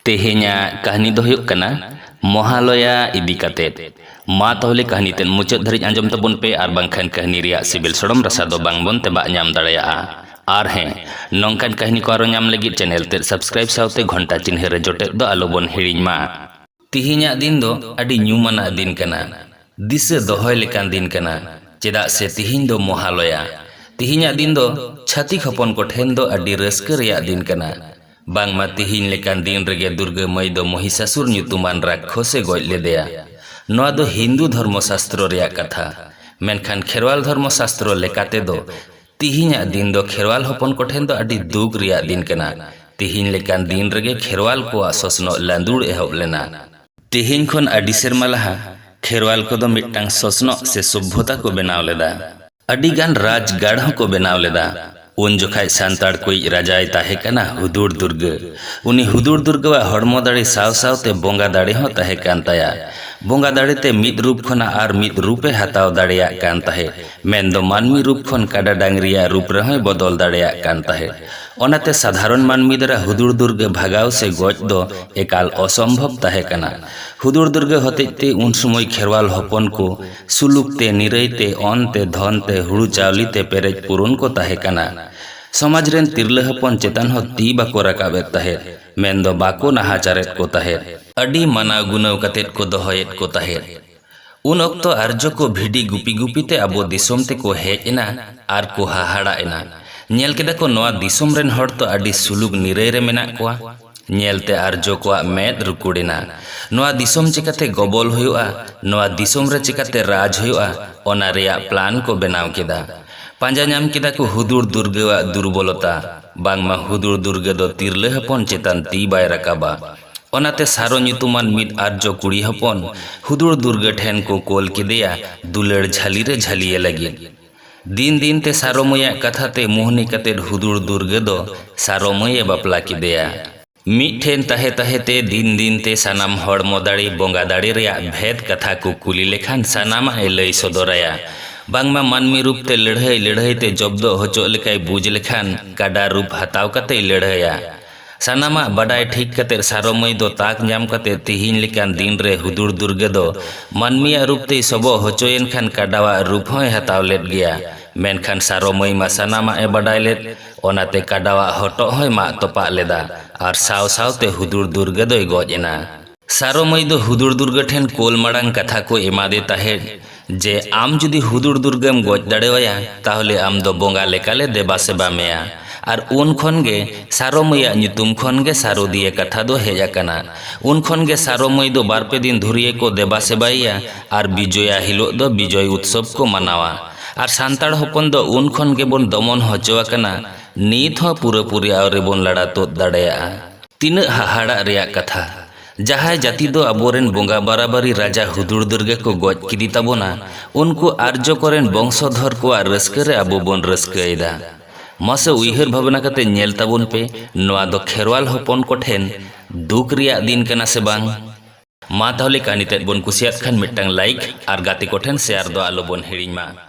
ᱛᱮᱦᱮᱧᱟᱜ ᱠᱟᱹᱦᱱᱤ ᱫᱚ ᱦᱩᱭᱩᱜ ᱠᱟᱱᱟ ᱢᱚᱦᱟᱞᱚᱭᱟ ᱤᱫᱤ ᱠᱟᱛᱮᱫ ᱢᱟ ᱛᱟᱦᱚᱞᱮ ᱠᱟᱹᱦᱱᱤ ᱛᱮᱫ ᱢᱩᱪᱟᱹᱫ ᱫᱷᱟᱹᱨᱤᱡ ᱟᱸᱡᱚᱢ ᱛᱟᱵᱚᱱ ᱯᱮ ᱟᱨ ᱵᱟᱝᱠᱷᱟᱱ ᱠᱟᱹᱦᱱᱤ ᱨᱮᱭᱟᱜ ᱥᱤᱵᱤᱞ ᱥᱚᱲᱚᱢ ᱨᱟᱥᱟ ᱫᱚ ᱵᱟᱝ ᱵᱚᱱ ᱛᱮᱵᱟᱜ ᱧᱟᱢ ᱫᱟᱲᱮᱭᱟᱜᱼᱟ ᱟᱨ ᱦᱮᱸ ᱱᱚᱝᱠᱟᱱ ᱠᱟᱹᱦᱱᱤ ᱠᱚ ᱟᱨᱚ ᱧᱟᱢ ᱞᱟᱹᱜᱤᱫ ᱪᱮᱱᱮᱞ ᱛᱮᱫ ᱥᱟᱵᱥᱠᱨᱟᱭᱤᱵ ᱥᱟᱶᱛᱮ ᱜᱷᱚᱱᱴᱟ ᱪᱤᱱᱦᱟᱹ ᱨᱮ ᱡᱚᱴᱮᱫ ᱫᱚ ᱟᱞᱚ ᱵᱚᱱ ᱦᱤᱲᱤᱧ ᱢᱟ ᱛᱮᱦᱮᱧᱟᱜ ᱫᱤᱱ ᱫᱚ ᱟᱹᱰᱤ ᱧᱩᱢᱟᱱᱟᱜ ᱫᱤᱱ ᱠᱟᱱᱟ ᱫᱤᱥᱟᱹ ᱫᱚᱦᱚᱭ ᱞᱮᱠᱟᱱ ᱫᱤᱱ ᱠᱟᱱᱟ ᱪᱮᱫᱟᱜ ᱥᱮ ᱛᱮᱦᱮᱧ ᱫᱚ ᱢᱚᱦᱟᱞᱚᱭᱟ ᱛᱮᱦᱮᱧᱟᱜ ᱫᱤᱱ ᱫᱚ ᱪᱷᱟᱹᱛᱤᱠ ᱦᱚᱯᱚᱱ ᱠᱚ ᱴᱷᱮᱱ ᱫᱚ ᱟᱹᱰᱤ ᱨᱟᱹᱥᱠᱟᱹ ᱨᱮᱭᱟᱜ ᱫᱤᱱ ᱠᱟᱱᱟ ᱵᱟᱝᱢᱟ ᱛᱤᱦᱤᱧ ᱞᱮᱠᱟᱱ ᱫᱤᱱ ᱨᱮᱜᱮ ᱫᱩᱨᱜᱟᱹ ᱢᱟᱹᱭ ᱫᱚ ᱢᱚᱦᱤᱥᱟᱥᱩᱨ ᱧᱩᱛᱩᱢᱟᱱ ᱨᱟᱠᱠᱷᱚᱥ ᱮ ᱜᱚᱡ ᱞᱮᱫᱮᱭᱟ᱾ ᱱᱚᱣᱟ ᱫᱚ ᱦᱤᱱᱫᱩ ᱫᱷᱚᱨᱢᱚ ᱥᱟᱥᱛᱨᱚ ᱨᱮᱭᱟᱜ ᱠᱟᱛᱷᱟ᱾ ᱢᱮᱱᱠᱷᱟᱱ ᱠᱷᱮᱨᱣᱟᱞ ᱫᱷᱚᱨᱢᱚ ᱥᱟᱥᱛᱨᱚ ᱞᱮᱠᱟᱛᱮ ᱫᱚ ᱛᱤᱦᱤᱧᱟᱜ ᱫᱤᱱ ᱫᱚ ᱠᱷᱮᱨᱣᱟᱞ ᱦᱚᱯᱚᱱ ᱠᱚ ᱴᱷᱮᱱ ᱫᱚ ᱟᱹᱰᱤ ᱫᱩᱠ ᱨᱮᱭᱟᱜ ᱫᱤᱱ ᱠᱟᱱᱟ᱾ ᱛᱤᱦᱤᱧ ᱞᱮᱠᱟᱱ ᱫᱤᱱ ᱨᱮᱜᱮ ᱠᱷᱮᱨᱣᱟᱞ ᱠᱚᱣᱟᱜ ᱥᱚᱥᱱᱚᱜ ᱞᱟᱹᱫᱩᱲ ᱮᱦᱚᱵ ᱞᱮᱱᱟ᱾ ᱛᱤᱦᱤᱧ ᱠᱷᱚᱱ ᱟᱹᱰᱤ ᱥᱮᱨᱢᱟ ᱞᱟᱦᱟ ᱠᱷᱮᱨᱣᱟᱞ ᱠᱚᱫᱚ ᱢᱤᱫᱴᱟᱝ ᱥᱚᱥᱱᱚᱜ ᱥᱮ ᱥᱚᱵᱷᱭᱚᱛᱟ ᱠᱚ ᱵᱮᱱᱟᱣ ᱞᱮᱫᱟ᱾ ᱟᱹᱰᱤ ᱜᱟᱱ ᱨᱟᱡᱽ ᱜᱟᱲ ᱦᱚᱸ ᱠᱚ ᱵᱮᱱᱟᱣ ᱞᱮᱫᱟ᱾ ᱩᱱ ᱡᱚᱠᱷᱟᱡ ᱥᱟᱱᱛᱟᱲ ᱠᱚᱭᱤᱡ ᱨᱟᱡᱟᱭ ᱛᱟᱦᱮᱸ ᱠᱟᱱᱟ ᱦᱩᱫᱩᱲ ᱫᱩᱨᱜᱟᱹ᱾ ᱩᱱᱤ ᱦᱩᱫᱩᱲ ᱫᱩᱨᱜᱟᱹᱣᱟᱜ ᱦᱚᱲᱢᱚ ᱫᱟᱲᱮ ᱥᱟᱶ ᱥᱟᱶ ᱛᱮ ᱵᱚᱸᱜᱟ ᱫᱟᱲᱮ ᱦᱚᱸ ᱛᱟᱦᱮᱸ ᱠᱟᱱ ᱛᱟᱭᱟ᱾ ᱵᱚᱸᱜᱟ ᱫᱟᱲᱮ ᱛᱮ ᱢᱤᱫ ᱨᱩᱯ ᱠᱷᱚᱱᱟᱜ ᱟᱨ ᱢᱤᱫ ᱨᱩᱯ ᱮ ᱦᱟᱛᱟᱣ ᱫᱟᱲᱮᱭᱟᱜ ᱠᱟᱱ ᱛᱟᱦᱮᱸᱫ, ᱢᱮᱱ ᱫᱚ ᱢᱟᱹᱱᱢᱤ ᱨᱩᱯ ᱠᱷᱚᱱ ᱠᱟᱰᱟ ᱰᱟᱹᱝᱨᱤᱭᱟᱜ ᱨᱩᱯ ᱨᱮᱦᱚᱸᱭ ᱵᱚᱫᱚᱞ ᱫᱟᱲᱮᱭᱟᱜ ᱠᱟᱱ ᱛᱟᱦᱮᱸᱫ᱾ ᱚᱱᱟ ᱛᱮ ᱥᱟᱫᱷᱟᱨᱚᱱ ᱢᱟᱹᱱᱢᱤ ᱫᱟᱨᱟ ᱦᱩᱫᱩᱲ ᱫᱩᱨᱜᱟᱹ ᱵᱷᱟᱜᱟᱣ ᱥᱮ ᱜᱚᱡ ᱫᱚ ᱮᱠᱟᱞ ᱚᱥᱚᱢᱵᱷᱚᱵᱽ ᱛᱟᱦᱮᱸ ᱠᱟᱱᱟ᱾ ᱦᱩᱫᱩᱲ ᱫᱩᱨᱜᱟᱹ ᱦᱚᱛᱮᱡ ᱛᱮ ᱩᱱ ᱥᱚᱢᱚᱭ ᱠᱷᱮᱨᱣᱟᱞ ᱦᱚᱯᱚᱱ ᱠᱚ᱾ ᱥᱩᱞᱩᱠ ᱛᱮ, ᱱᱤᱨᱟᱹᱭ ᱛᱮ, ᱚᱱ ᱛᱮ, ᱫᱷᱚᱱ ᱛᱮ, ᱦᱩᱲᱩ ᱪᱟᱣᱞᱤ ᱛᱮ ᱯᱮᱨᱮᱡ ᱯᱩᱨᱩᱱ ᱠᱚ ᱛᱟᱦᱮᱸ ᱠᱟᱱᱟ᱾ ᱥᱚᱢᱟᱡᱽ ᱨᱮᱱ ᱛᱤᱨᱞᱟᱹ ᱦᱚᱯᱚᱱ ᱪᱮᱛᱟᱱ ᱦᱚᱸ ᱛᱤ ᱵᱟᱠᱚ ᱨᱟᱠᱟᱵ ᱮᱫ ᱛᱟᱦᱮᱸᱫ, ᱢᱮᱱ ᱫᱚ ᱵᱟᱠᱚ ᱱᱟᱦᱟᱪᱟᱨᱮᱫ ᱠᱚ ᱛᱟᱦᱮᱸᱫ᱾ ᱟᱹᱰᱤ ᱢᱟᱱᱟᱣ ᱜᱩᱱᱟᱹᱣ ᱠᱟᱛᱮ ᱠᱚ ᱫᱚᱦᱚᱭᱮᱫ ᱠᱚ ᱛᱟᱦᱮᱸᱫ᱾ ᱩᱱ ᱚᱠᱛᱚ ᱟᱨᱡᱚ ᱠᱚ ᱵᱷᱤᱰᱤ ᱜᱩᱯᱤ ᱜᱩᱯᱤ ᱛᱮ ᱟᱵᱚ ᱫᱤᱥᱚᱢ ᱛᱮ ᱠᱚ ᱦᱮᱡ ᱮᱱᱟ ᱟᱨ ᱠᱚ ᱦᱟᱦᱟᱲᱟᱜ ᱮᱱᱟ᱾ ᱧᱮᱞ ᱠᱮᱫᱟ ᱠᱚ ᱱᱚᱶᱟ ᱫᱤᱥᱚᱢ ᱨᱮᱱ ᱦᱚᱲ ᱛᱚ ᱟᱹᱰᱤ ᱥᱩᱞᱩᱠ ᱱᱤᱨᱟᱹᱭ ᱨᱮ ᱢᱮᱱᱟᱜ ᱠᱚᱣᱟ᱾ ᱧᱮᱞᱛᱮ ᱟᱨᱡᱚ ᱠᱚᱣᱟᱜ ᱢᱮᱫ ᱨᱩᱠᱩᱲ ᱮᱱᱟ᱾ ᱱᱚᱣᱟ ᱫᱤᱥᱚᱢ ᱪᱮᱠᱟᱛᱮ ᱜᱚᱵᱚᱞ ᱦᱩᱭᱩᱜᱼᱟ, ᱱᱚᱣᱟ ᱫᱤᱥᱚᱢ ᱨᱮ ᱪᱮᱠᱟᱛᱮ ᱨᱟᱡᱽ ᱦᱩᱭᱩᱜᱼᱟ ᱚᱱᱟ ᱨᱮᱭᱟᱜ ᱯᱞᱟᱱ ᱠᱚ ᱵᱮᱱᱟᱣ ᱠᱮᱫᱟ᱾ ᱯᱟᱸᱡᱟ ᱧᱟᱢ ᱠᱮᱫᱟ ᱠᱚ ᱦᱩᱫᱩᱲ ᱫᱩᱨᱜᱟᱹᱣᱟᱜ ᱫᱩᱨᱵᱚᱞᱚᱛᱟ᱾ ᱵᱟᱝᱢᱟ ᱦᱩᱫᱩᱲ ᱫᱩᱨᱜᱟᱹ ᱫᱚ ᱛᱤᱨᱞᱟᱹ ᱦᱚᱯᱚᱱ ᱪᱮᱛᱟᱱ ᱛᱤ ᱵᱟᱭ ᱨᱟᱠᱟᱵᱟ᱾ ᱚᱱᱟᱛᱮ ᱥᱟᱨᱚ ᱧᱩᱛᱩᱢᱟᱱ ᱢᱤᱫ ᱟᱨᱡᱚ ᱠᱩᱲᱤ ᱦᱚᱯᱚᱱ ᱦᱩᱫᱩᱲ ᱫᱩᱨᱜᱟᱹ ᱴᱷᱮᱱ ᱠᱚ ᱠᱳᱞ ᱠᱮᱫᱮᱭᱟ ᱫᱩᱞᱟᱹᱲ ᱡᱷᱟᱹᱞᱤ ᱨᱮ ᱡᱷᱟᱹᱞᱤᱭᱮ ᱞᱟᱹᱜᱤᱫ᱾ ᱫᱤᱱ ᱫᱤᱱ ᱛᱮ ᱥᱟᱨᱚ ᱢᱟᱹᱭᱟᱜ ᱠᱟᱛᱷᱟ ᱛᱮ ᱢᱩᱦᱱᱤ ᱠᱟᱛᱮ ᱦᱩᱫᱩᱲ ᱫᱩᱨᱜᱟᱹ ᱫᱚ ᱥᱟᱨᱚ ᱢᱟᱹᱭ ᱮ ᱵᱟᱯᱞᱟ ᱠᱮᱫᱮᱭᱟ᱾ ᱢᱤᱫ ᱴᱷᱮᱱ ᱛᱟᱦᱮᱸ ᱛᱟᱦᱮᱸ ᱛᱮ ᱫᱤᱱ ᱫᱤᱱ ᱛᱮ ᱥᱟᱱᱟᱢ ᱦᱚᱲᱢᱚ ᱫᱟᱲᱮ, ᱵᱚᱸᱜᱟ ᱫᱟᱲᱮ ᱨᱮᱭᱟᱜ ᱵᱷᱮᱫᱽ ᱠᱟᱛᱷᱟ ᱠᱚ ᱠᱩᱞᱤ ᱞᱮᱠᱷᱟᱱ ᱥᱟᱱᱟᱢᱟᱜ ᱮ ᱞᱟᱹᱭ ᱥᱚᱫᱚᱨ ᱟᱭᱟ᱾ ᱵᱟᱝᱢᱟ ᱢᱟᱹᱱᱢᱤ ᱨᱩᱯ ᱛᱮ ᱞᱟᱹᱲᱦᱟᱹᱭ ᱞᱟᱹᱲᱦᱟᱹᱭ ᱛᱮ ᱡᱚᱵᱽᱫᱚᱜ ᱦᱚᱪᱚᱜ ᱞᱮᱠᱟᱭ ᱵᱩᱡᱽ ᱞᱮᱠᱷᱟᱱ ᱠᱟᱰᱟ ᱨᱩᱯ ᱦᱟᱛᱟᱣ ᱠᱟᱛᱮᱭ ᱞᱟᱹᱲᱦᱟᱹᱭᱟ᱾ ᱥᱟᱱᱟᱢᱟᱜ ᱵᱟᱰᱟᱭ ᱴᱷᱤᱠ ᱠᱟᱛᱮ ᱥᱟᱨᱚ ᱢᱟᱹᱭ ᱫᱚ ᱛᱟᱠ ᱧᱟᱢ ᱠᱟᱛᱮ ᱛᱤᱦᱤᱧ ᱞᱮᱠᱟᱱ ᱫᱤᱱ ᱨᱮ ᱦᱩᱫᱩᱲ ᱫᱩᱨᱜᱟᱹ ᱫᱚ ᱢᱟᱹᱱᱢᱤᱭᱟᱜ ᱨᱩᱯ ᱛᱮᱭ ᱥᱚᱵᱚᱜ ᱦᱚᱪᱚᱭᱮᱱ ᱠᱷᱟᱱ ᱠᱟᱰᱟᱣᱟᱜ ᱨᱩᱯ ᱦᱚᱸᱭ ᱦᱟᱛᱟᱣ ᱞᱮᱫ ᱜᱮᱭᱟ᱾ ᱢᱮᱱᱠᱷᱟᱱ ᱥᱟᱨᱚ ᱢᱟᱹᱭ ᱢᱟ ᱥᱟᱱᱟᱢᱟᱜ ᱮ ᱵᱟᱰᱟᱭ ᱞᱮᱫ ᱚᱱᱟᱛᱮ ᱠᱟᱰᱟᱣᱟᱜ ᱦᱚᱴᱚᱜ ᱦᱚᱸᱭ ᱢᱟᱜ ᱛᱚᱯᱟᱜ ᱞᱮᱫᱟ ᱟᱨ ᱥᱟᱶ ᱥᱟᱶᱛᱮ ᱦᱩᱫᱩᱲ ᱫᱩᱨᱜᱟᱹ ᱫᱚᱭ ᱜᱚᱡ ᱮᱱᱟ᱾ ᱥᱟᱨᱚ ᱢᱟᱹᱭ ᱫᱚ ᱦᱩᱫᱩᱲ ᱫᱩᱨᱜᱟᱹ ᱴᱷᱮᱱ ᱠᱳᱞ ᱢᱟᱲᱟᱝ ᱠᱟᱛᱷᱟ ᱠᱚ ᱮᱢᱟᱫᱮ ᱛᱟᱦᱮᱸᱫ ᱡᱮ ᱟᱢ ᱡᱩᱫᱤ ᱦᱩᱫᱩᱲ ᱫᱩᱨᱜᱟᱹᱢ ᱜᱚᱡ ᱫᱟᱲᱮᱣᱟᱭᱟ ᱛᱟᱦᱚᱞᱮ ᱟᱢ ᱫᱚ ᱵᱚᱸᱜᱟ ᱞᱮᱠᱟ ᱞᱮ ᱫᱮᱵᱟ ᱥᱮᱵᱟ ᱢᱮᱭᱟ ᱟᱨ ᱩᱱ ᱠᱷᱚᱱ ᱜᱮ ᱥᱟᱨᱚ ᱢᱟᱹᱭᱟᱜ ᱧᱩᱛᱩᱢ ᱠᱷᱚᱱ ᱜᱮ ᱥᱟᱨᱚ ᱫᱤᱭᱮ ᱠᱟᱛᱷᱟ ᱫᱚ ᱦᱮᱡ ᱟᱠᱟᱱᱟ ᱩᱱ ᱠᱷᱚᱱ ᱜᱮ ᱥᱟᱨᱚ ᱢᱟᱹᱭ ᱫᱚ ᱵᱟᱨ ᱯᱮ ᱫᱤᱱ ᱫᱷᱩᱨᱭᱟᱹ ᱠᱚ ᱫᱮᱵᱟ ᱥᱮᱵᱟᱭᱮᱭᱟ ᱟᱨ ᱵᱤᱡᱚᱭᱟ ᱦᱤᱞᱚᱜ ᱫᱚ ᱵᱤᱡᱚᱭ ᱩᱛᱥᱚᱵᱽ ᱠᱚ ᱢᱟᱱᱟᱣᱟ ᱟᱨ ᱥᱟᱱᱛᱟᱲ ᱦᱚᱯᱚᱱ ᱫᱚ ᱩᱱ ᱠᱷᱚᱱ ᱜᱮᱵᱚᱱ ᱫᱚᱢᱚᱱ ᱦᱚᱪᱚ ᱟᱠᱟᱱᱟ ᱱᱤᱛ ᱦᱚᱸ ᱯᱩᱨᱟᱹ ᱯᱩᱨᱤ ᱟᱹᱣᱨᱤ ᱵᱚᱱ ᱞᱟᱲᱟ ᱛᱩᱫ ᱫᱟᱲᱮᱭᱟᱜᱼᱟ ᱛᱤᱱᱟᱹᱜ ᱦᱟᱦᱟᱲᱟᱜ ᱨᱮᱭᱟᱜ ᱠᱟᱛᱷᱟ, ᱡᱟᱦᱟᱸᱭ ᱡᱟᱹᱛᱤ ᱫᱚ ᱟᱵᱚ ᱨᱮᱱ ᱵᱚᱸᱜᱟ ᱵᱟᱨᱟᱵᱟᱹᱨᱤ ᱨᱟᱡᱟ ᱦᱩᱫᱩᱲᱫᱩᱨᱜᱟᱹ ᱠᱚ ᱜᱚᱡ ᱠᱮᱫᱮ ᱛᱟᱵᱚᱱᱟ, ᱩᱱᱠᱩ ᱟᱨᱡᱚ ᱠᱚ ᱨᱮᱱ ᱵᱚᱝᱥᱚᱫᱷᱚᱨ ᱠᱚᱣᱟᱜ ᱨᱟᱹᱥᱠᱟᱹ ᱨᱮ ᱟᱵᱚ ᱵᱚᱱ ᱨᱟᱹᱥᱠᱟᱹ ᱮᱫᱟ᱾ ᱢᱟᱥᱮ ᱩᱭᱦᱟᱹᱨ ᱵᱷᱟᱵᱽᱱᱟ ᱠᱟᱛᱮ ᱧᱮᱞ ᱛᱟᱵᱚᱱ ᱯᱮ ᱱᱚᱶᱟ ᱫᱚ ᱠᱷᱮᱨᱣᱟᱞ ᱦᱚᱯᱚᱱ ᱠᱚ ᱴᱷᱮᱱ ᱫᱩᱠ ᱨᱮᱭᱟᱜ ᱫᱤᱱ ᱠᱟᱱᱟ ᱥᱮ ᱵᱟᱝ? ᱢᱟ ᱛᱟᱦᱚᱞᱮ ᱠᱟᱹᱦᱱᱤ ᱛᱮᱫ ᱵᱚᱱ ᱠᱩᱥᱤᱭᱟᱫ ᱠᱷᱟᱱ ᱢᱤᱫᱴᱟᱝ ᱞᱟᱭᱤᱠ ᱟᱨ ᱜᱟᱛᱮ ᱠᱚ ᱴᱷᱮᱱ ᱥᱮᱭᱟᱨ ᱫᱚ ᱟᱞᱚ ᱵᱚᱱ ᱦᱤᱲᱤᱧ ᱢᱟ᱾